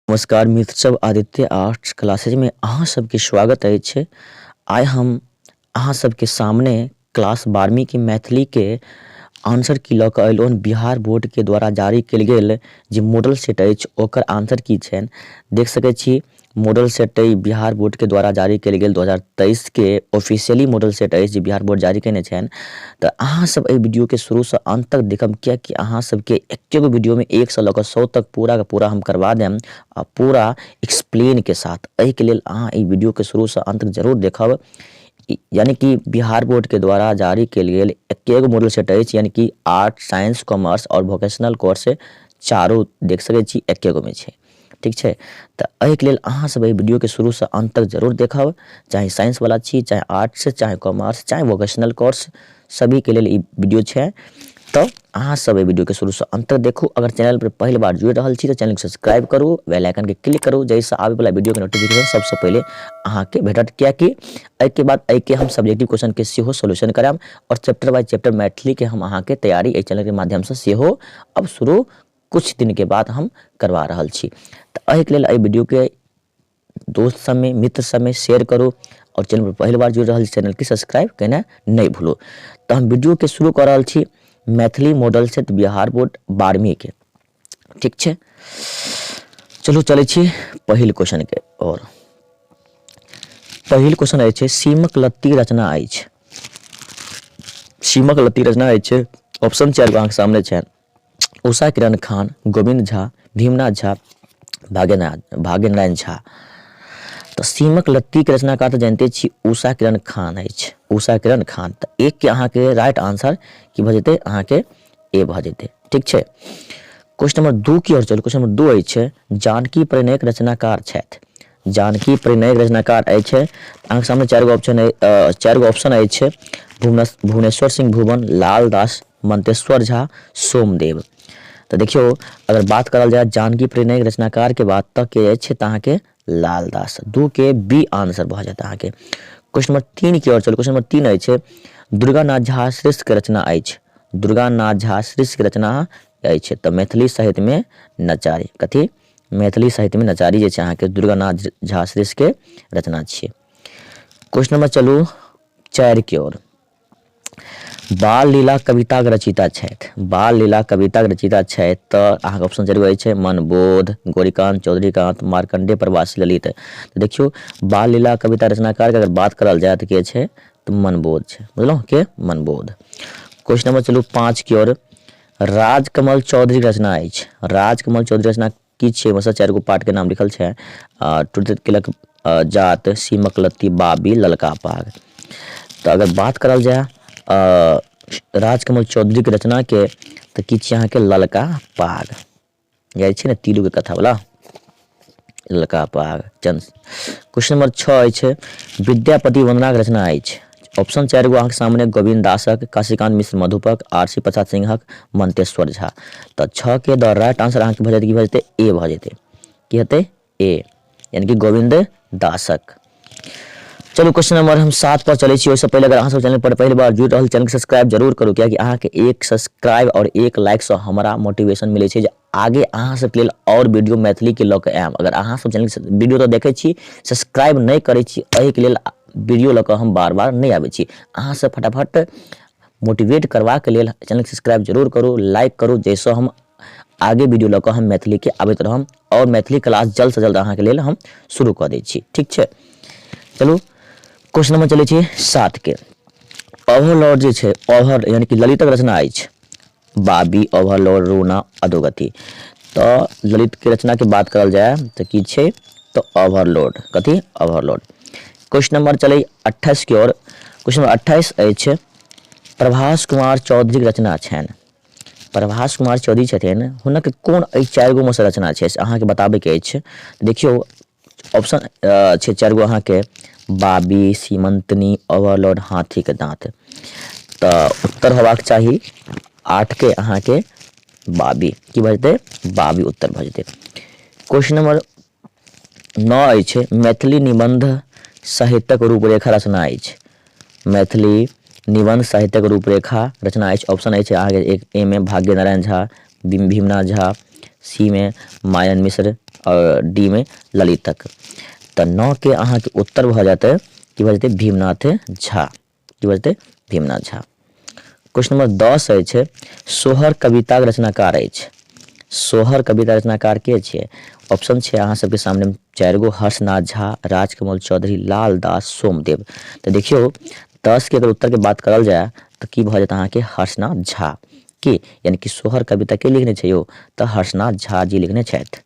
नमस्कार मित्र सब आदित्य आर्ट्स क्लासेज में अहाँ सबके स्वागत अछि आइ हम अहाँ सबके सामने क्लास बारहवीं के मैथिली के आंसर की लऽ कऽ अयलहुँ बिहार बोर्ड के द्वारा जारी कयल गेल जे मॉडल सेट अछि ओकर आंसर की छनि देख सकैत छी मॉडल सेट अइ बिहार बोर्ड के द्वारा जारी कयल गेल दू हजार तेइस के ऑफिशियली मॉडल सेट अछि जे बिहार बोर्ड जारी कयने छनि तऽ अहाँ सब एहि वीडियोके शुरूसँ अन्त तक देखब किएकि अहाँ सबके एकेगो वीडियोमे एकसँ लऽ कऽ सौ तक पूराके पूरा हम करबा देम आ पूरा एक्सप्लेनके साथ एहिके लेल अहाँ एहि वीडियोके शुरूसँ अन्त तक जरूर देखब यानी कि बिहार बोर्डके द्वारा जारी कयल गेल एकेगो मॉडल सेट अछि यानी कि आर्ट साइंस कॉमर्स आओर वोकेशनल कोर्स चारू देख सकैत छी एकेगोमे छै ठीक छै तऽ एहिके लेल अहाँसभ एहि वीडियोके शुरूसँ अन्त तक जरूर देखब चाहे साइंसवला छी चाहे आर्ट्स चाहे कॉमर्स चाहे वोकेशनल कोर्स सभीके लेल ई वीडियो छै तऽ अहाँसभ एहि वीडियोके शुरूसँ अन्त तक देखू अगर चैनलपर पहिल बार जुड़ि रहल छी तऽ चैनलके सब्सक्राइब करू बेल आइकनके क्लिक करू जाहिसँ आबैवला वीडियोके नोटिफिकेशन सभसँ पहिले अहाँके भेटत किएकि एहिके बाद एहिके हम सब्जेक्टिव क्वेश्चनके सेहो सोल्यूशन करायब आओर चैप्टर बाय चैप्टर मैथिलीके हम अहाँके तैयारी एहि चैनलके माध्यमसँ सेहो अब शुरू किछु दिनके बाद हम करबा रहल छी तऽ एहिके लेल एहि वीडियोके दोस्त सबमे मित्र सबमे शेयर करू आओर चैनलपर पहिल बार जुड़ि रहल छी चैनलके सब्सक्राइब केनाइ नहि भूलू तऽ हम वीडियोके शुरू कऽ रहल छी Maithili model set Bihar board बारहवींके ठीक छै चलू चलै छी पहिल क्वेश्चनके आओर पहिल क्वेश्चन अछि सीमक लत्ती रचना अछि सीमक लत्ती रचना अछि ऑप्शन चारि अहाँके सामने छनि उषा किरण खान गोविन्द झा भीमनाथ झा भाग्यनाथ भाग्यनारायण झा तऽ सीमक लत्तीके रचनाकार तऽ जानिते छी उषा किरण खान अछि उषा किरण खान तऽ एकके अहाँके राइट आंसर की भऽ जेतै अहाँके ए भऽ जेतै ठीक छै क्वेश्चन नंबर दू की आओर चलू क्वेश्चन नंबर दू अछि जानकी प्रणयक रचनाकार छथि जानकी परिणयक रचनाकार अछि अहाँके सामने चारि गो ऑप्शन चारि गो ऑप्शन अछि भुवनेश्वर सिंह भुवन लाल दास मंतेश्वर झा सोमदेव तऽ देखियौ अगर बात करल जाय जानकी प्रणय रचनाकार के बात तऽ के अछि तऽ अहाँके लाल दास दू के बी आंसर भऽ जायत अहाँके क्वेश्चन नंबर तीन की ओर चलू क्वेश्चन नंबर तीन अछि दुर्गानाथ झा श्रेष्ठ के रचना अछि दुर्गानाथ झा श्रेष्ठ के रचना अछि तऽ मैथिली साहित्य में नचारी कथी मैथिली साहित्यमे नचारी जे छै अहाँके दुर्गानाथ झा श्रेष्ठके रचना छियै क्वेश्चन नंबर चलू चारिके ओर बाल लीला कविताक रचिता छथि बाल लीला कविताक रचिता छथि तऽ अहाँके ऑप्शन जरूर अछि छै मनबोध गौरीकांत चौधरीकांत मार्कंडे प्रवास ललित देखियौ बाल लीला कविता रचनाकारके अगर बात करल जाय तऽ के छै तऽ मनबोध छै बुझलहुँ के मनबोध क्वेश्चन नंबर चलू पाँचके ओर राजकमल चौधरीक रचना अछि राजकमल चौधरी रचना की छियै ओहिमेसँ चारि गो पार्टके नाम लिखल छै टूटैत केलक जात सीमक लत्ती बाबी ललका पाग तऽ अगर बात करल जाय राजकमल चौधरीके रचनाके तऽ की छियै अहाँके ललका पाग जाइ छै ने तीलू के कथा बला ललका पाग चन क्वेश्चन नंबर छओ अछि विद्यापति वंदनाक रचना अछि ऑप्शन चारि गो अहाँके सामने गोविन्द दासक काशीकांत मिश्र मधुपक आरसी प्रसाद सिंहक मंतेश्वर झा तऽ छओ के द राइट आंसर अहाँके भऽ जेतै की भऽ जेतै ए भऽ जेतै की हेतै ए यानी कि गोविंद दासक चलू क्वेश्चन नंबर हम सात पर चले ओहिसँ पहिले अगर अहाँ सब चैनल पर पहली बार जुड़ रहा चैनल के सब्सक्राइब जरूर करू कियाकि अहाँ के एक सब्सक्राइब और एक लाइक से हमारा मोटिवेशन मिले छै आगे अहाँ सब के लिए और वीडियो मैथिली के लग आयब अगर अहाँ सब चैनल के वीडियो तो देखे छी सब्सक्राइब नहीं करे छी एहि के लिए वीडियो लग हम बार बार नहीं आबे छी अहाँ सब फटाफट मोटिवेट करवा के लिए चैनल सब्सक्राइब जरूर करू लाइक करू जैसे हम आगे वीडियो लग हम मैथिली के आबैत रहम आओर मैथिली क्लास जल्दसँ जल्द अहाँके लेल हम शुरू कऽ दै छी ठीक छै चलू क्वेश्चन नंबर चलै छै सातके ओवरलोड जे छै ओवर यानि कि ललितक रचना अछि बाबी ओवरलोड रूना अधोगति तऽ ललितके रचनाके बात करल जाय तऽ की छै तऽ ओवरलोड कथी ओवरलोड क्वेश्चन नंबर चलै अट्ठाइसके ओर क्वेश्चन नंबर अट्ठाइस अछि प्रभास कुमार चौधरीके रचना छनि प्रभास कुमार चौधरी छथिन हुनक कोन एहि चारि गो मेसँ रचना छै से अहाँके बताबैके अछि देखियौ ऑप्शन छै चारि गो अहाँके बाबी सीमंतनी ओवरलोड हाथीके दाँत तऽ उत्तर होबाक चाही आठके अहाँके बाबी की भऽ जेतै बाबी उत्तर भऽ जेतै क्वेश्चन नंबर न अछि मैथिली निबन्ध साहित्यक रूपरेखा रचना अछि मैथिली निबन्ध साहित्यक रूपरेखा रचना अछि ऑप्शन अछि अहाँके एक ए मे भाग्य नारायण झा भीमनाथ झा सी मे मायन मिश्र आओर डी मे ललितक तऽ नओके अहाँके उत्तर भऽ जेतै कि भऽ जेतै भीमनाथ झा की बजतै भीमनाथ झा क्वेश्चन नंबर दस अछि सोहर कविताक रचनाकार अछि सोहर कविता रचनाकार के छियै ऑप्शन छै अहाँ सबके सामने चारि गो हर्षनाथ झा राजकमल चौधरी लाल दास सोमदेव तऽ देखियौ दस के अगर उत्तर के बात करल जाय तऽ की भऽ जायत अहाँके हर्षनाथ झा के यानी कि सोहर कविता के लिखने छै यौ तऽ हर्षनाथ झा जी लिखने छथि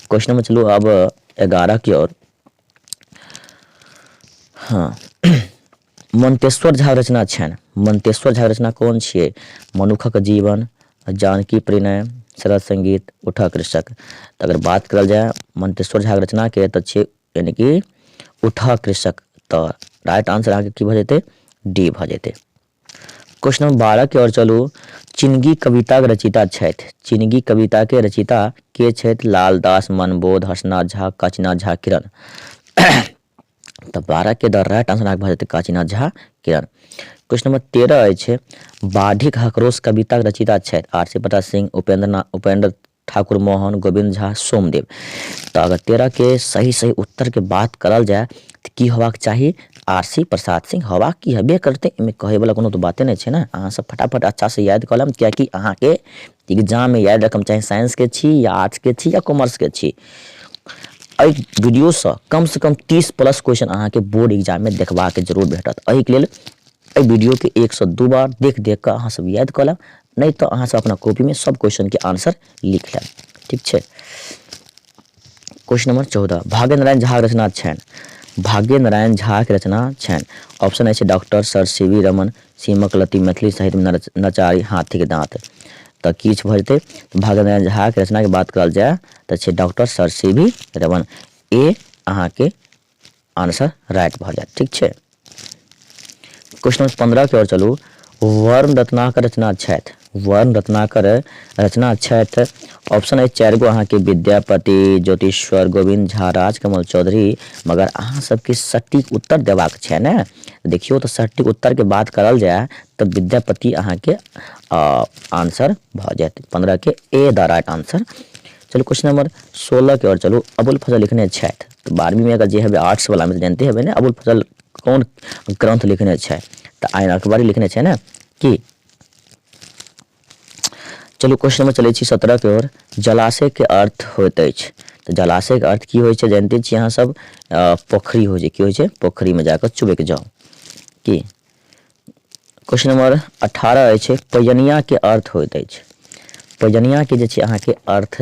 क्वेश्चन नंबर चलू अब एगारह की ओर हँ मन्तेश्वर झाक रचना छनि मन्तेश्वर झाक रचना कोन छियै मनुखक जीवन जानकी प्रणय सरल संगीत उठा कृषक तऽ अगर बात करल जाय मन्तेश्वर झाक रचनाके तऽ छियै यानि कि उठा कृषक तऽ राइट आन्सर अहाँके की भऽ जेतै डी भऽ जेतै क्वेश्चन नंबर बारह के ओर चलू चिनगी कविताक रचिता छथि चिनगी कविता के रचिता के छथि लालदास मनबोध हर्षनाथ झा काचीनाथ झा किरण तऽ बारह के द राइट आंसर अहाँके भऽ जेतै काचीनाथ झा किरण क्वेश्चन नंबर तेरह अछि बाढ़िक हकरोस कविताक रचिता छथि आरसी प्रताप सिंह उपेंद्र उपेंद्र ठाकुर मोहन, गोविन्द झा, सोमदेव। त अगर तेरह के सही सही उत्तर के बात करल जाय त की होबाक चाही? आरसी प्रसाद सिंह होबाक की हेबे करतै एहि मे कहै बला कोनो त बाते नहि छै ने। अहाँ सब फटाफट अच्छा सँ याद क लेब किए कि अहाँ के एग्जाम मे याद रखब चाही साइंस के छी या आर्ट्स के छी या कॉमर्स के छी। एहि वीडियो सँ कम सँ कम तीस प्लस क्वेश्चन अहाँ के बोर्ड एग्जाम मे देखबाक जरूर भेटत एहि के लेल एहि वीडियो के एक सँ दू बार देख देख क अहाँ सब याद क लेब नहि तऽ अहाँसभ अपना कॉपीमे सभ क्वेश्चनके आन्सर लिख लेब ठीक छै क्वेश्चन नंबर चौदह भाग्य नारायण झाक रचना छनि भाग्य नारायण झाक रचना छनि ऑप्शन अछि doctor sir C V Raman सीमक लती मैथिली साहित्यमे नचारी हाथीके दाँत तऽ किछु भऽ जेतै भाग्य नारायण झाक रचनाके बात करल जाय तऽ छै doctor sir C V Raman A अहाँके आंसर राइट भऽ जायत ठीक छै क्वेश्चन नंबर पन्द्रहके ओर चलू वर्ण रत्नाकर रचना छथि वर्ण रत्नाकर रचना छथि ऑप्शन अछि चारि गो अहाँके विद्यापति ज्योतिश्वर गोविंद झा राजकमल चौधरी मगर अहाँ सबके सटीक उत्तर देबाक छै ने देखियौ तऽ सटीक उत्तरके बात करल जाय तऽ विद्यापति अहाँके आंसर भऽ जायत पन्द्रहके ए द राइट आंसर चलू क्वेश्चन नंबर सोलहके ओर चलू अबुल फजल लिखने छथि तऽ बारहवींमे अगर जे हेबै आर्ट्सवलामे तऽ जानिते हेबै ने अबुल फजल कोन ग्रन्थ लिखने छै तऽ आयन अकबरी लिखने छै ने की चलू क्वेश्चन नंबर चलै छी सत्रह के ओर जलाशय के अर्थ होइत अछि तऽ जलाशय के अर्थ की होइ छै जानिते छी अहाँ सब पोखरी होइ छै की होइ छै पोखरी में जाकर चुबे के जाउ की क्वेश्चन नंबर अठारह अछि पयनिया के अर्थ होइत अछि पयनिया के जे छै अहाँके अर्थ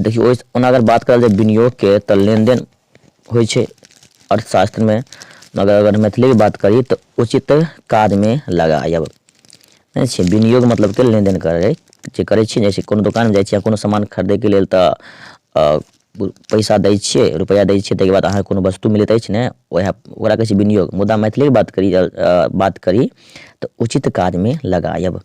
देखियौ ओहि ओना अगर बात करल जाय विनियोगके तऽ लेनदेन होइ छै अर्थशास्त्रमे मगर अगर मैथिलीके बात करी तऽ उचित काजमे लगायब नहि छै विनियोग मतलब के लेनदेन करै जे करै छी जैसे कोनो दोकानमे जाइ छियै कोनो सामान खरीदैके लेल तऽ पैसा दै छियै रुपैआ दै छियै ताहिके बाद अहाँके कोनो वस्तु मिलैत अछि ने ओएह ओकरा कहै छै विनियोग मुदा मैथिलीके बात करी बात करी तऽ उचित काजमे लगायब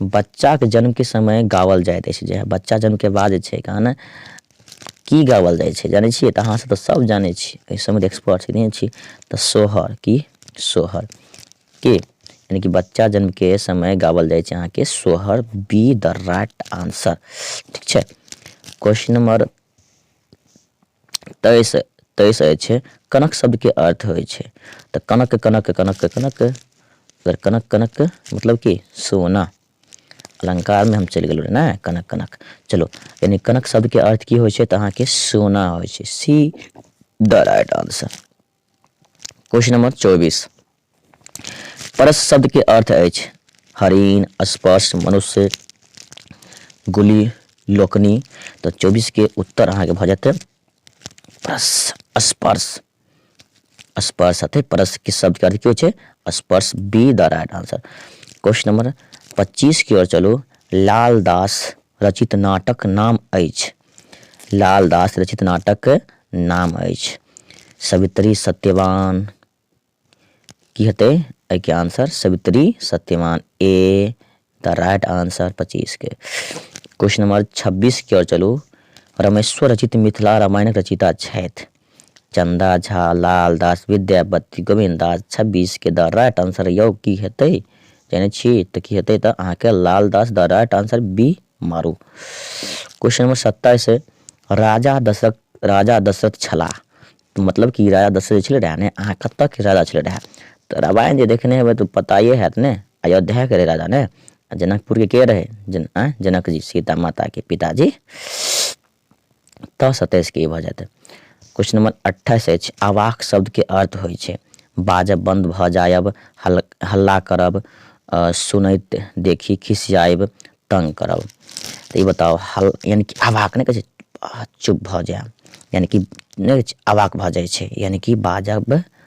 बच्चाक जन्म के समय गावल जाइत अछि जे बच्चा जन्म के बाद जे छै गाना की गावल जाइ छै जानै छियै तऽ अहाँसभ तऽ सभ जानै छी एहि सभमे तऽ एक्सपर्ट नहि छी तऽ सोहर की सोहर के यानी कि बच्चा जन्म के समय गावल जाइ छै अहाँके Sohar B the right answer ठीक छै क्वेश्चन नंबर तय से तय से छै कनक शब्द के अर्थ होइ छै तऽ कनक कनक कनक कनक अगर कनक कनक मतलब कि सोना अलंकार में हम चलि गेलहुँ ने कनक कनक चलो यानी कनक शब्द के अर्थ की होइ छै तऽ अहाँके सोना होइ छै C the right answer question number चौबीस परस शब्द के अर्थ अछि हरिण स्पर्श मनुष्य गुली लोकनी तो चौबीस के उत्तर अहाँ के भ जाते परस स्पर्श स्पर्श अतः परस के शब्द के अर्थ की हो स्पर्श B the right answer question number पच्चीस की ओर चलू लालदास रचित नाटक नाम अछि लाल दास रचित नाटक नाम अछि सवित्री सत्यवान की हेतै एहिके answer Savitri Satyavan A the right answer पच्चीस के क्वेश्चन नंबर छब्बीस की ओर चलू रमेश्वर रचित मिथिला रामायणक रचिता छथि चन्दा झा लाल दास विद्यापति गोविन्द दास छब्बीस के द राइट आंसर यौ की हेतै जानै छी तऽ की हेतै तऽ अहाँके Lal Das the right answer B मारू क्वेश्चन नंबर सत्ताइस राजा दशरथ राजा दशरथ छलाह तऽ मतलब कि राजा दशरथ जे छलै रहए ने अहाँ कतयके राजा छलै रहए तऽ रामायण जे देखने हेबै तऽ पताए हैत ने अयोध्याके रहै राजा ने जनकपुरके के रहै जन जनकजी सीता माताके पिताजी तऽ सतैस के ई भऽ जायत। क्वेश्चन नंबर 28 अछि आवाक शब्द के अर्थ होइ छै बाजब बंद भऽ जायब, हल्ला करब, सुनैत देखि खिसियायब, तंग करब। तऽ ई बताउ हल यानी कि आवाक नहि कहै छै चुप भऽ जायब यानी कि नहि अवाक भऽ जाइ छै यानी कि बाजब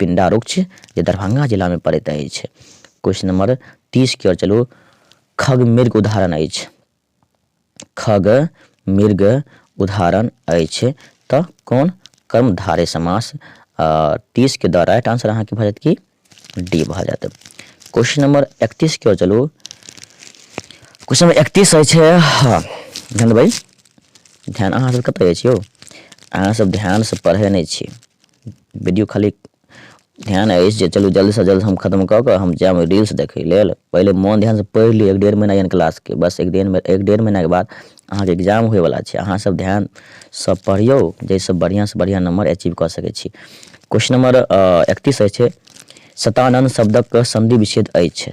पिंडा रुक्ष जे दरभंगा जिला में पड़ैत अछि क्वेश्चन नंबर तीस की ओर चलू खग मृग उदाहरण अछि खग मृग उदाहरण अछि तऽ कोन कर्मधारे समास तीस के द्वारा राइट आंसर अहाँके भऽ जायत कि डी भऽ जायत क्वेश्चन नंबर इकतीस की ओर चलू क्वेश्चन नंबर इकतीस अछि हँ ध्यान देबै ध्यान अहाँ सब कतऽ अछि यौ अहाँ सब ध्यान से पढ़े नहि छी वीडियो खाली ध्यान अछि जे चलू जल्दसँ जल्द हम खत्म कऽ कऽ हम जायब रील्स देखय लेल पहिले मोन ध्यानसँ पढ़ि लिअ एक डेढ़ महीना यानी क्लासके बस एक डेढ़ एक डेढ़ महीनाके बाद अहाँके एग्जाम होयवला छै अहाँसभ ध्यानसँ पढ़ियौ जाहिसँ बढ़िआँसँ बढ़िआँ नम्बर अचीव कऽ सकै छी क्वेश्चन नम्बर एकतीस अछि सतानन्द शब्दक सन्धि विच्छेद अछि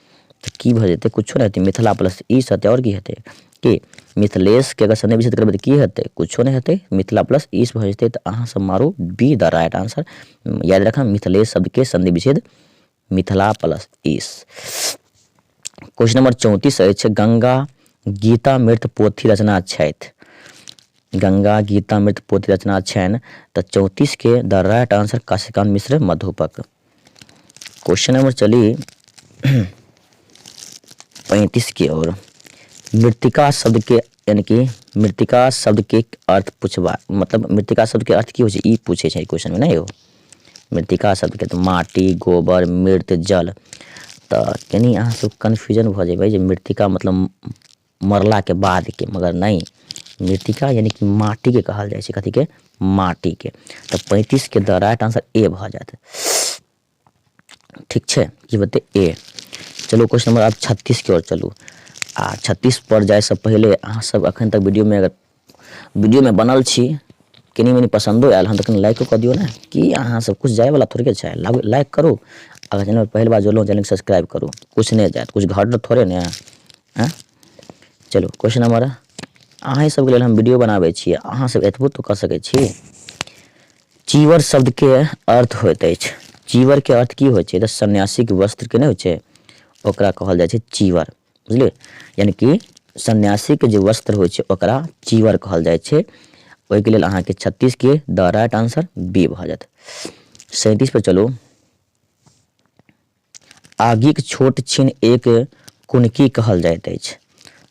तऽ की भऽ जेतै किछो नहि हेतै मिथिला प्लस ई सत्य आओर की हेतै कि मिथिलेशके अगर सन्देश विषय करबै तऽ की हेतै किछो नहि हेतै मिथिला प्लस ईस भऽ जेतै तऽ अहाँसभ मारू बी द राइट आंसर याद रखब मिथिलेश शब्दके सन्धि विच्छेद मिथिला प्लस ईस क्वेश्चन नंबर चौंतीस अछि गंगा गीता मृत पोथी रचना छथि गंगा गीता मृत पोथी रचना छनि तऽ चौंतीसके the right answer Kashikant Mishra मधुपक क्वेश्चन नंबर चली पैंतीस की ओर मृतिका शब्द के यानी कि मृतिका शब्द के अर्थ पूछबा मतलब मृतिका शब्द के अर्थ की हो ई पूछे छै क्वेश्चन में ना यो मृतिका शब्द के तो माटी गोबर मृत जल तो कहीं अहाँ सब कन्फ्यूजन भ जेबै जे मृतिका मतलब मरलाके बादके मगर नहि मृतिका यानि कि माटिके कहल जाइ छै कथीके माटिके तऽ पैंतीसके द राइट आंसर ए भऽ जायत ठीक छै की बते ए चलू क्वेश्चन नंबर आब छत्तीसके ओर चलू आ छत्तीस पर जायसँ पहिले अहाँसभ एखन तक वीडियोमे अगर वीडियोमे बनल छी कनी मनी पसन्दो आयल हँ तऽ कनी लाइको कऽ दियौ ने कि अहाँ सब किछु जायवला थोड़े छै लाइक करू अगर चैनल पहिल बार जुड़लहुँ चैनल सब्सक्राइब करू किछु नहि जायत किछु घर थोड़े ने आँय चलू क्वेश्चन नंबर अहाँ सबके लेल हम वीडियो बनाबै छी अहाँ सब एतबो तो कऽ सकै छी चीवर शब्दके अर्थ होइत अछि चीवरके अर्थ की होइ छै तऽ सन्यासीके वस्त्रके नहि होइ छै ओकरा कहल जाइ छै चीवर बुझलियै यानि कि सन्यासीके जे वस्त्र होइ छै ओकरा चीवर कहल जाइ छै ओहिके लेल अहाँके छत्तीसके द राइट आंसर बी भऽ जायत सैंतीस पर चलू आगिक छोट छिन एक कुनकी कहल जाइत अछि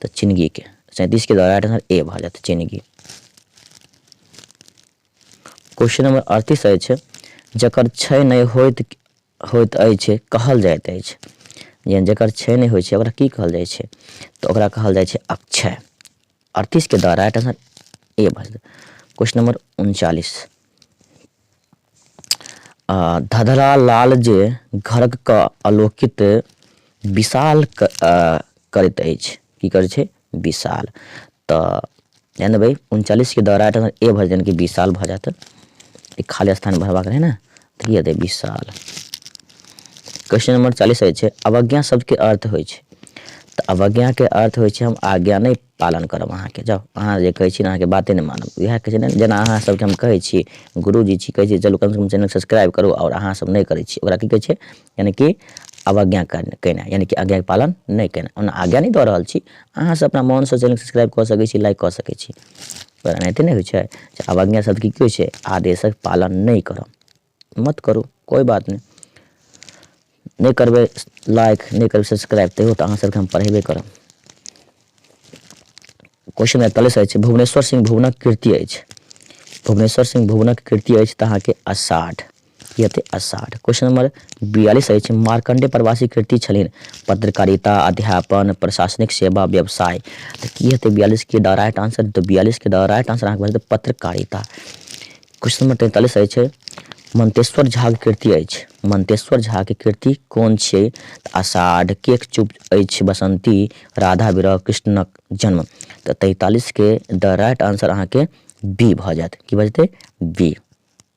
तऽ चिनगीके सैंतीसके द्वारा राइट आंसर ए भऽ जायत चिनगी क्वेश्चन नंबर अड़तीस अछि जकर छै नहि होइत होइत अछि कहल जाइत अछि जे जकर क्षय नहि होइ छै ओकरा की कहल जाइ छै तऽ ओकरा कहल जाइ छै अक्षय अड़तीसके द्वारा राइट आंसर ए भऽ जेतै क्वेश्चन नंबर उनचालीस धधरा लाल जे घरक क आलोकित विशाल करैत अछि की करै छै विशाल तऽ जान देबै उनचालीसके दौरा तऽ ए भरि जान कि विशाल भऽ जायत ई खाली स्थान भरबाक रहै ने तऽ की हेतै विशाल क्वेश्चन नंबर चालीस होइ छै अवज्ञा शब्दके अर्थ होइ छै तऽ अवज्ञाके अर्थ होइ छै हम आज्ञा नहि पालन करब अहाँके जाउ अहाँ जे कहै छी अहाँके बाते नहि मानब इएह कहै छै ने जेना अहाँ सभके हम कहै छी गुरुजी छी कहै छी चलू कमसँ कम चैनल सब्सक्राइब करू आओर अहाँसभ नहि करै छी ओकरा की कहै छै यानि कि अवज्ञा केनाइ यानि कि आज्ञाके पालन नहि केनाइ ओना आज्ञा नहि दऽ रहल छी अहाँसभ अपना मोनसँ चैनल सब्सक्राइब कऽ सकै छी लाइक कऽ सकै छी पर एनाहिते नहि होइ छै जे अवज्ञा शब्द की होइ छै आदेशक पालन नहि करब मत करू कोइ बात नहि नहि करबै लाइक नहि करबै सब्सक्राइब तैयो तऽ अहाँसभके हम पढ़ेबे करब क्वेश्चन एकतालीस अछि भुवनेश्वर सिंह भुवनक कृति अछि भुवनेश्वर सिंह भुवनक कृति अछि तऽ अहाँके अषाढ़ यते अषाढ़। क्वेश्चन नंबर बियालिस अछि मार्कंडे प्रवासी कृति छलिन पत्रकारिता, अध्यापन, प्रशासनिक सेवा, व्यवसाय। तऽ की हेतै बियालिस के द राइट आंसर तऽ बियालिस के द राइट आंसर अहाँके भेटत पत्रकारिता। क्वेश्चन नंबर तैंतालिस अछि मंतेश्वर झा के कृति अछि मंतेश्वर झा के कृति कोन छियै तऽ अषाढ़, केक चुप अछि बसंती, राधा विरह, कृष्णक जन्म। तऽ तैंतालिस के द राइट आंसर अहाँके बी भऽ जायत की भऽ जेतै बी।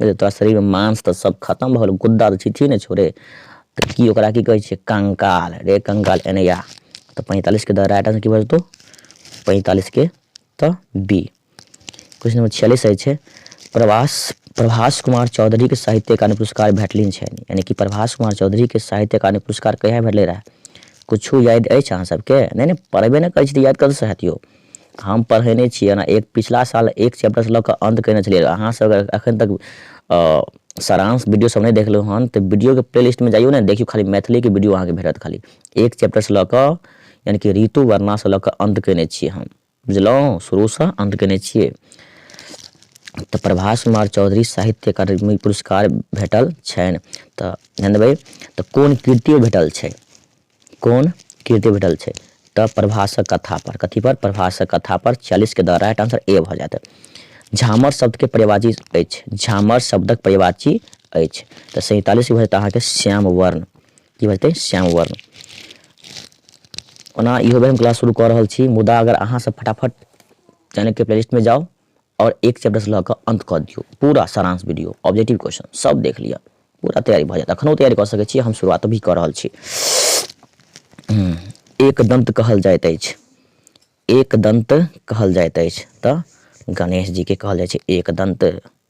अरे तोरा शरीर में मांस तऽ सब खत्म भऽ गेल गुद्दा तऽ छीछी ने छोड़े तऽ की ओकरा की कहै छै कंकाल रे कंकाल एने या तऽ पैंतालीस के द राइट आंसर की भऽ जेतौ पैंतालीस के तऽ बी क्वेश्चन नंबर छियालीस रहै छै प्रवास प्रभास कुमार चौधरी के साहित्य अकादमी पुरस्कार भेटलिन छै यानी कि प्रभास कुमार चौधरी के साहित्य अकादमी पुरस्कार कहिया भेटले रहे कुछ याद अछि अहाँ सबके नहि नहि पढ़बे नहि करै छी तऽ याद कतऽसँ हैत यौ हम पढ़ेने छी एना एक पिछला साल एक चैप्टरसँ लऽ कऽ अन्त कयने छलियै अहाँसभ अगर एखन तक सारांश वीडियोसभ नहि देखलहुँ हन तऽ वीडियोके प्ले लिस्टमे जाइयो ने देखियौ खाली मैथिलीके वीडियो अहाँके भेटत खाली एक चैप्टरसँ लऽ कऽ यानि कि ऋतु वर्णासँ लऽ कऽ अन्त कयने छियै हम बुझलहुँ शुरूसँ अन्त कयने छियै तऽ प्रभास कुमार चौधरी साहित्य अकादमी पुरस्कार भेटल छनि तऽ जानबै तऽ कोन कृतियो भेटल छै कोन कीर्ति भेटल छै तऽ प्रभासक कथा पर कथी पर प्रभासक कथा पर चालीस के द राइट आंसर ए भऽ जायत झामर शब्द के पर्यावाची अछि झामर शब्दक पर्यावाची अछि तऽ सैंतालीस भऽ जायत अहाँके श्याम वर्ण की भऽ जेतै श्याम वर्ण ओना इहो बेर हम क्लास शुरू कऽ रहल छी मुदा अगर अहाँसभ फटाफट चैनलके प्लेलिस्टमे जाउ और एक चैप्टर से लग अंत कर दियो पूरा सारांश वीडियो ऑब्जेक्टिव क्वेश्चन सब देख लिया पूरा तैयारी भ जात अखनो तैयारी कर सके छी हम शुरुआत भी कर रहल छी हम्म, एक दंत कहल जाइत अछि एक दंत कहल जाइत अछि त गणेश जी के कहल जाय छै एक दंत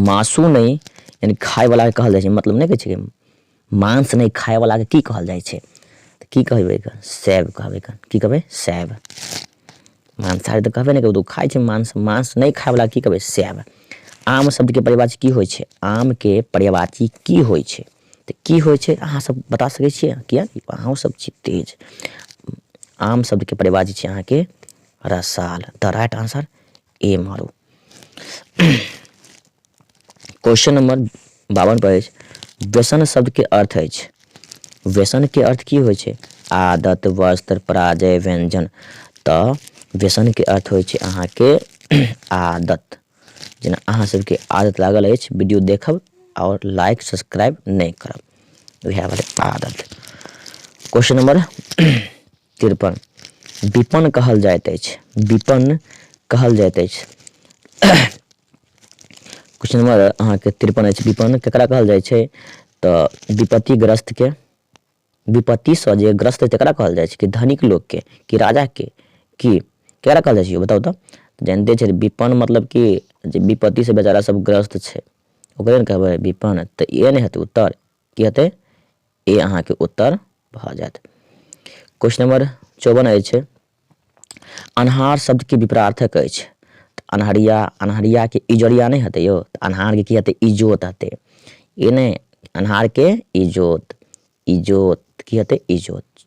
मासु नहि यानी खायवलाके कहल जाइ छै मतलब नहि कहै छै मांस नहि खायवलाके की कहल जाइ छै तऽ की कहबै एकर सैब कहबै एकर की कहबै सैब मांसाहारी तऽ कहबे नहि करबै ओ खाइ छै मांस मांस नहि खायवला की कहबै सैब आम शब्दके पर्यावाची की होइ छै आमके पर्यावाची की होइ छै तऽ की होइ छै अहाँसभ बता सकै छियै किए अहूँसभ छी तेज आम शब्दके पर्यावाची छै अहाँके रसाल द राइट आंसर ए मारू क्वेश्चन नंबर बावन पर अछि व्यसन शब्दके अर्थ अछि व्यसनके अर्थ की होइ छै आदत वस्त्र पराजय व्यंजन तऽ व्यसनके अर्थ होइ छै अहाँके आदत जेना अहाँ सबके आदत लागल अछि वीडियो देखब आओर लाइक सब्सक्राइब नहि करब उएह भेलै आदत क्वेश्चन नंबर तिरपन विपन्न कहल जाइत अछि विपन्न कहल जाइत अछि क्वेश्चन नंबर अहाँके तिरपन अछि विपन्न ककरा कहल जाइ छै तऽ विपत्तिग्रस्तके विपत्तिसँ जे ग्रस्त होइ तकरा कहल जाइ छै कि धनिक लोकके कि राजाके कि ककरा कहल जाइ छै बताउ तऽ जानिते छै विपन्न मतलब कि जे विपत्तिसँ बेचारा सब ग्रस्त छै ओकरे ने कहबै विपन्न तऽ इएह ने हेतै उत्तर की हेतै ए अहाँके उत्तर भऽ जायत क्वेश्चन नंबर चौवन अछि अन्हार शब्दके विपरार्थक अछि तऽ अन्हरिया अन्हरियाके इजोरिया नहि हेतै यौ तऽ अन्हारके की हेतै इजोत हेतै ई नहि अन्हारके इजोत इजोत की हेतै इजोत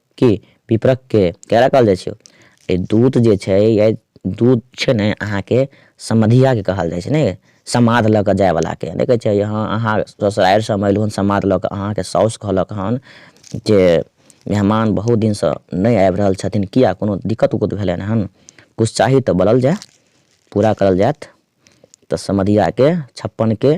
की पिपरक के केरा कहल जाइ छै ए दूत जे छै या दूत छै ने अहाँ के समधिया के कहल जाइ छै ने समाध लऽ कऽ जाय वाला के देखे छै यहाँ अहाँ ससुरारि से हम एलहुँ समाध लऽ कऽ अहाँ के साउस कहलक हन जे मेहमान बहुत दिन से नहि आबि रहल छथिन किया कोनो दिक्कत उक्कत भेलनि हन कुछ चाही तऽ बोलल जाय पूरा करल जायत तऽ समधिया के छप्पन के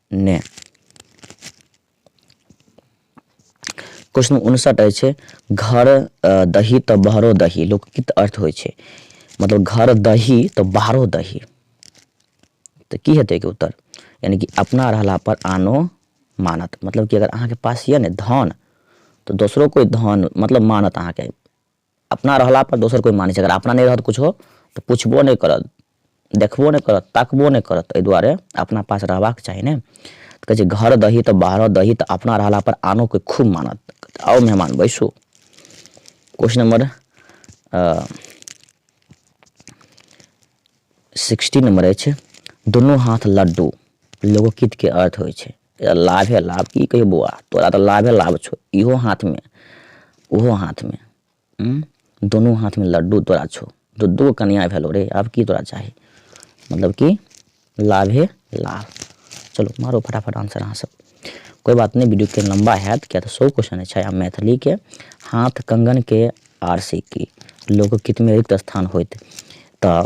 ने क्वेश्चन उनसठ अछि घर दही तऽ बाहरो दही लोकगीत अर्थ होइ छै मतलब घर दही तऽ बाहरो दही तऽ की हेतै के उत्तर यानी कि अपना रहला पर आनो मानत मतलब कि अगर अहाँके पास यऽ ने धन तऽ दोसरो कोइ धन मतलब मानत अहाँके अपना रहला पर दोसर कोइ मानै छै अगर अपना नहि रहत किछो तऽ पुछबो नहि करत देखबो नहि करत ताकबो नहि करत एहि दुआरे अपना पास रहबाक चाही ने कहै छै घर दही तऽ बाहरो दही तऽ अपना रहला पर आनो कोइ खूब मानत आओ मेहमान बैसू क्वेश्चन नंबर सिक्सटी नंबर अछि दुनू हाथ लड्डू लोकगीतके अर्थ होइ छै ए लाभे लाभ की कही बौआ तोरा तऽ लाभे लाभ छौ इहो हाथमे ओहो हाथमे हूँ दुनू हाथमे लड्डू तोरा छौ दू दू कनिया भेलो रे आब की तोरा चाही मतलब कि लाभे लाभ चलो मारो फटाफट आंसर अहाँ सब कोई बात नहीं वीडियो के लंबा हैत किया तऽ सौ क्वेश्चन छै आ मैथिली के हाथ कंगन के आर सिक्की लोकगीत में रिक्त स्थान होइत तऽ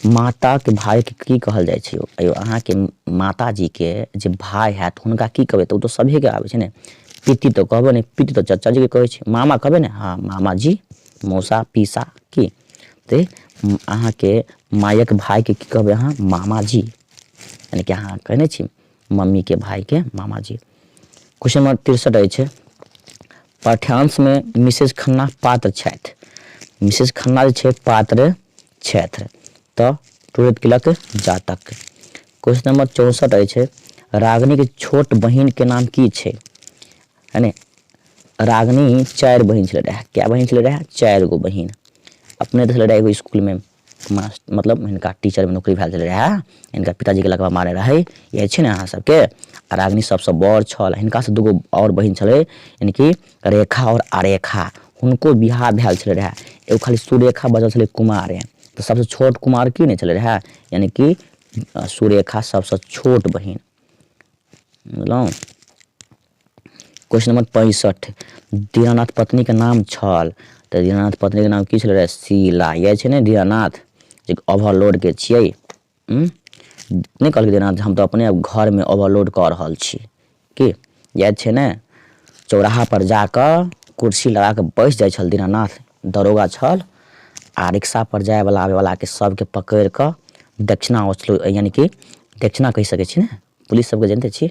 माताक भायके की कहल जाइ छै यौ अहाँके माताजीके जे भाय हैत हुनका की कहबै तऽ ओ तऽ सभेके आबै छै ने पिति तऽ कहबै ने पिति तऽ चचाजीके कहै छै मामा कहबै ने हँ मामाजी मौसा पीसा की तऽ अहाँके मायक भायके की कहबै अहाँ मामाजी यानी कि अहाँ कहने छी मम्मीके भायके मामाजी क्वेश्चन नंबर तिरसठ अछि पाठ्यांशमे मिसेज खन्ना पात्र छथि मिसेज खन्ना जे छै पात्र छथि तऽ टूटैत केलक जातक क्वेश्चन नंबर चौंसठ अछि रागनी के छोट बहिन के नाम की छै यानी रागनी चारि बहिन छलै रहए कए बहिन छलै रहए चारि गो बहिन अपने देखले रहए एगो स्कूल में मास्टर मतलब हिनका टीचर में नौकरी भेल छलै रहए हिनका पिताजी के लगवा मारे रहै इएह छै ने अहाँ सबके आ रागनी सबसँ बड़ छल हिनकासँ दूगो आओर बहिन छलै यानी कि रेखा आओर अरेखा हुनको बिआह भेल छलै रहए एगो खाली सुरेखा बचल छलै कुमारे तऽ सभसँ छोट कुमार की नहि छलै रहए यानि कि सुरेखा सभसँ छोट बहिन बुझलहुँ क्वेश्चन नंबर पैंसठि दीनानाथ पत्नीके नाम छल तऽ दीनानाथ पत्नीके नाम की छलै रहए शीला इएह छै ने दीनानाथ जे ओवरलोडके छियै उँ नहि कहलकै जेना हम तऽ अपने घरमे ओवरलोड कऽ रहल छी की याद छै ने चौराहापर जा कऽ कुर्सी लगा कऽ बैस जाइ छल दीनानाथ दरोगा छल आ रिक्शापर जायवला आबयवलाके सभके पकड़ि कऽ दक्षिणा वसूल यानिकि दक्षिणा कहि सकै छी ने पुलिस सभके जनिते छी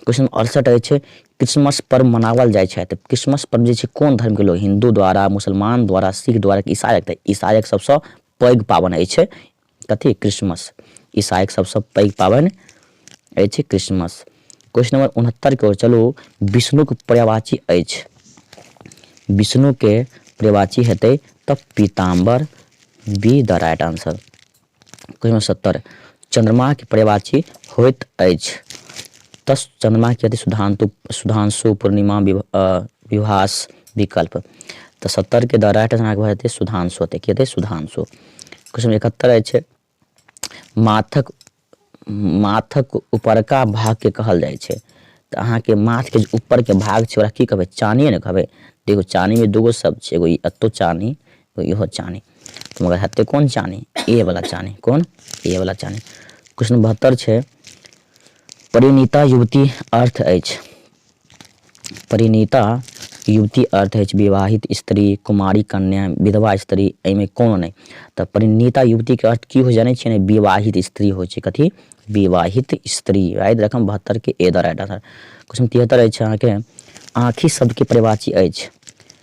क्वेश्चन अड़सठ अछि क्रिसमस पर्व मनावल जाइ छै तऽ क्रिसमस पर्व जे छै कोन धर्मके लोक हिन्दू द्वारा मुसलमान द्वारा सिख द्वारा कि ईसाइक तऽ ईसाइक सभसँ पैघ पाबनि अछि कथी क्रिसमस ईसाइक सभसँ पैघ पाबनि अछि क्रिसमस क्वेश्चन नंबर उनहत्तरके ओर चलू विष्णुके पर्यावाची अछि विष्णुके पर्यावाची हेतै तऽ पीताम्बर B the right answer question सत्तर चंद्रमा के परिवाची होइत अछि तस चंद्रमा के यदि सुधांतु सुधांशु पूर्णिमा विभास विकल्प तऽ सत्तर के द राइट आंसर भऽ जेतै सुधांशु होतै की हेतै सुधांशु क्वेश्चन इकहत्तर अछि माथक माथक ऊपरका भाग के कहल जाइ छै तऽ अहाँके माथ के ऊपर के भाग छै ओकरा की कहबै चानिए ने कहबै देखो चानी में दूगो शब्द छै एगो ई अत्तो चानी तो यह चानी तो मगर हत्ते कौन चानी ए वाला चानी कौन ए वाला चानी क्वेश्चन बहत्तर है परिणीता युवती अर्थ अछि परिणीता युवती अर्थ अछि विवाहित स्त्री कुमारी कन्या विधवा स्त्री एहिमे कोनो नहि तऽ परिणीता युवती के अर्थ की हो जाने छियै विवाहित स्त्री हो छै कथी विवाहित स्त्री राइट रकम बहत्तर के A the right answer question तिहत्तर अछि अहाँके आँखि सबके परिवाची अछि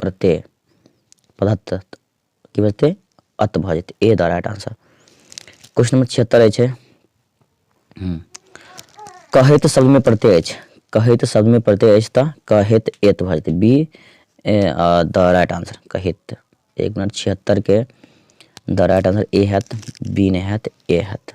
प्रत्यय पदत्त की बजतै अत भऽ जेतै A the right answer question number छिहत्तर अछि हम्म। कहैत शब्दमे प्रत्यय अछि कहैत शब्दमे प्रत्यय अछि तऽ कहैत एत भऽ जेतै बी द राइट आंसर कहैत एक मिनट छिहत्तरके द राइट आंसर ए हैत बी नहि हैत ए हैत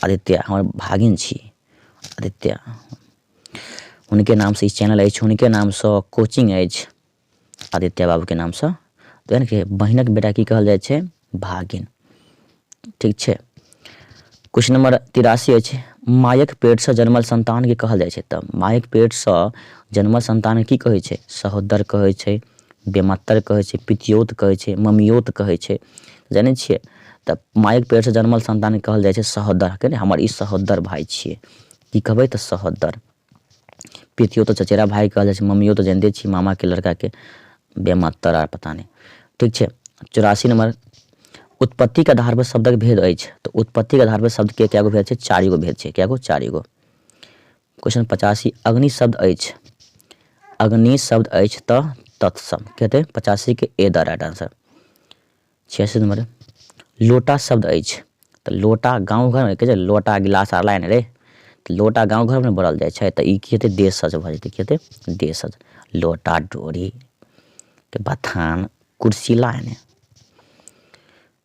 आदित्य हमर भागिन छी आदित्य हुनके नामसँ ई चैनल अछि हुनके नामसँ कोचिंग अछि आदित्य बाबूके नामसँ तऽ यानि कि बहिनक बेटा की कहल जाइ छै भागिन ठीक छै क्वेश्चन नंबर तिरासी अछि मायक पेटसँ जन्मल संतानके कहल जाइ छै तऽ मायक पेटसँ जन्मल संतान की कहै छै सहोदर कहै छै बेमातर कहै छै पितिऔत कहै छै ममिऔत कहै छै जानै छिए तऽ माइके पेटसँ जनमल सन्तानके कहल जाइ छै सहोदर कहै ने हमर ई सहोदर भाइ छिए की कहबै तऽ सहोदर पितिऔत तऽ चचेरा भाइ कहल जाइ छै ममिऔत तऽ जानिते छी मामाके लड़काके बेमातर आर पता नहि ठीक छै चौरासी नम्बर उत्पत्तिके आधारपर शब्दक भेद अछि तऽ उत्पत्तिके आधारपर शब्दके कए गो भेद छै चारि गो भेद छै कए गो चारि गो क्वेश्चन पचासी अग्नि शब्द अछि अग्नि शब्द अछि तऽ तत्सम की हेतै पचासीके ए द राइट आंसर छियासी नंबर लोटा शब्द अछि तऽ लोटा गाँव घरमे कहै छै लोटा गिलास आर लाइन रे तऽ लोटा गाँव घरमे बोलल जाइ छै तऽ ई की हेतै देश सज भऽ जेतै की हेतै देश सज लोटा डोरी के बथान कुर्सी लाइन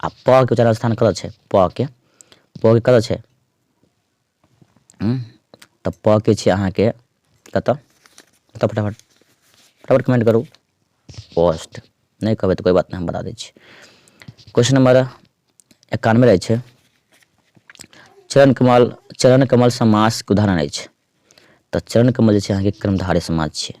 आ प के उच्चारण स्थान कतऽ छै प के प के कतऽ छै तऽ प के छै अहाँके कतऽ कतऽ फटाफट फटाफट कमेंट करू पोस्ट नहि कहबै तऽ कोइ बात नहि हम बता दै छी क्वेश्चन नंबर एकानवे रहै छै चरण कमल चरण कमल समासके उदाहरण अछि तऽ चरण कमल जे छै अहाँके कर्मधारय समाज छियै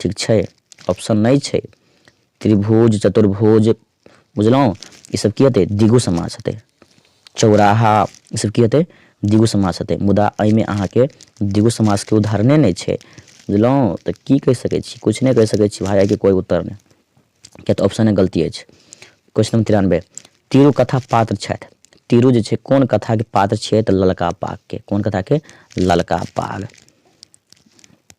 ठीक छै ऑप्शन नहि छै त्रिभुज चतुर्भुज बुझलहुँ ईसभ की हेतै दिगो समास हेतै चौराहा ईसभ की हेतै दिगो समास हेतै मुदा एहिमे अहाँके दिगो समासके उदाहरणे नहि छै बुझलहुँ तऽ की कहि सकै छी किछु नहि कहि सकै छी भाय एहिके कोइ उत्तर नहि किया तऽ ऑप्शने गलती अछि क्वेश्चन नंबर तिरानबे तीरू कथा पात्र छथि तीरू जे छै कोन कथाके पात्र छियै तऽ ललका पागके कोन कथाके ललका पाग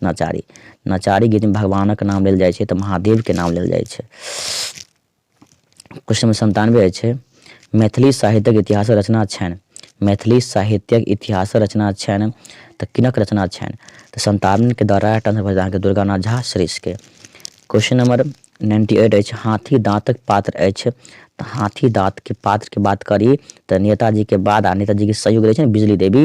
नचारी नचारी गीतमे भगवानक नाम लेल जाइ छै तऽ महादेवके नाम लेल जाइ छै क्वेश्चन नंबर सन्तानवे छै मैथिली साहित्यक इतिहास रचना छनि मैथिली साहित्यक इतिहास रचना छनि तऽ किनक रचना छनि तऽ सन्तानके द्वारा एकटा भऽ अहाँके दुर्गानाथ झा श्रेष्ठके क्वेश्चन नंबर नाइन्टी एट अछि हाथी दाँतक पात्र अछि तऽ हाथी दाँतके पात्रके बात करी तऽ नेताजीके बाद आ नेताजीके सहयोग रहै छै ने बिजली देवी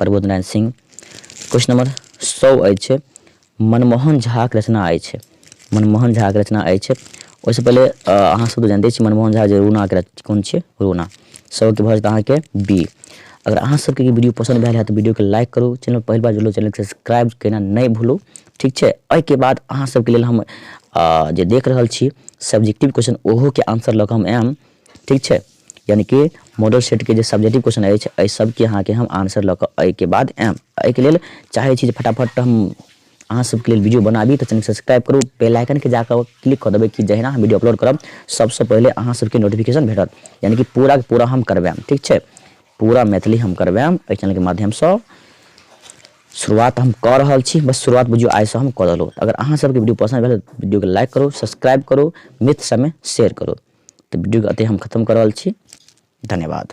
प्रबोध नारायण सिंह क्वेश्चन नंबर सौ अछि मनमोहन झाक रचना अछि मनमोहन झाक रचना अछि ओहिसँ पहिले अहाँ सब तऽ जानिते छी मनमोहन झा जे रूना के कोन छै रूना सौ के भऽ जेतै अहाँके बी अगर अहाँ सबके ई वीडियो पसन्द भेल है तऽ वीडियो के लाइक करू चैनल पहिल बार जुड़लहुँ चैनल सब्सक्राइब केना नहि भूलू ठीक छै एहिके बाद अहाँ सबके लेल हम जे देख रहल छी सब्जेक्टिव क्वेश्चन ओहोके आंसर लऽ कऽ हम आयब ठीक छै यानी कि मॉडल सेट के जे सब्जेक्टिव क्वेश्चन अछि एहि सबके अहाँके हम आंसर लऽ कऽ एहिके बाद आयब एहिके लेल चाहै छी जे फटाफट हम अहाँ सबके लेल वीडियो बनाबी तऽ चैनल सब्सक्राइब करू बेल आइकनके जाकऽ क्लिक कऽ देबै कि जहिना हम वीडियो अपलोड करब सबसँ पहिले अहाँ सबके नोटिफिकेशन भेटत यानी कि पूरा पूरा हम करबायब ठीक छै पूरा मैथिली हम करबायब एहि चैनलके माध्यमसँ शुरुआत हम कऽ रहल छी बस शुरुआत बुझियौ आइसँ हम कऽ देलहुँ अगर अहाँ सबके वीडियो पसन्द भेल वीडियोके लाइक करू सब्सक्राइब करू मित्र सबमे शेयर करू तऽ वीडियोके एतहि हम खतम कऽ रहल छी धन्यवाद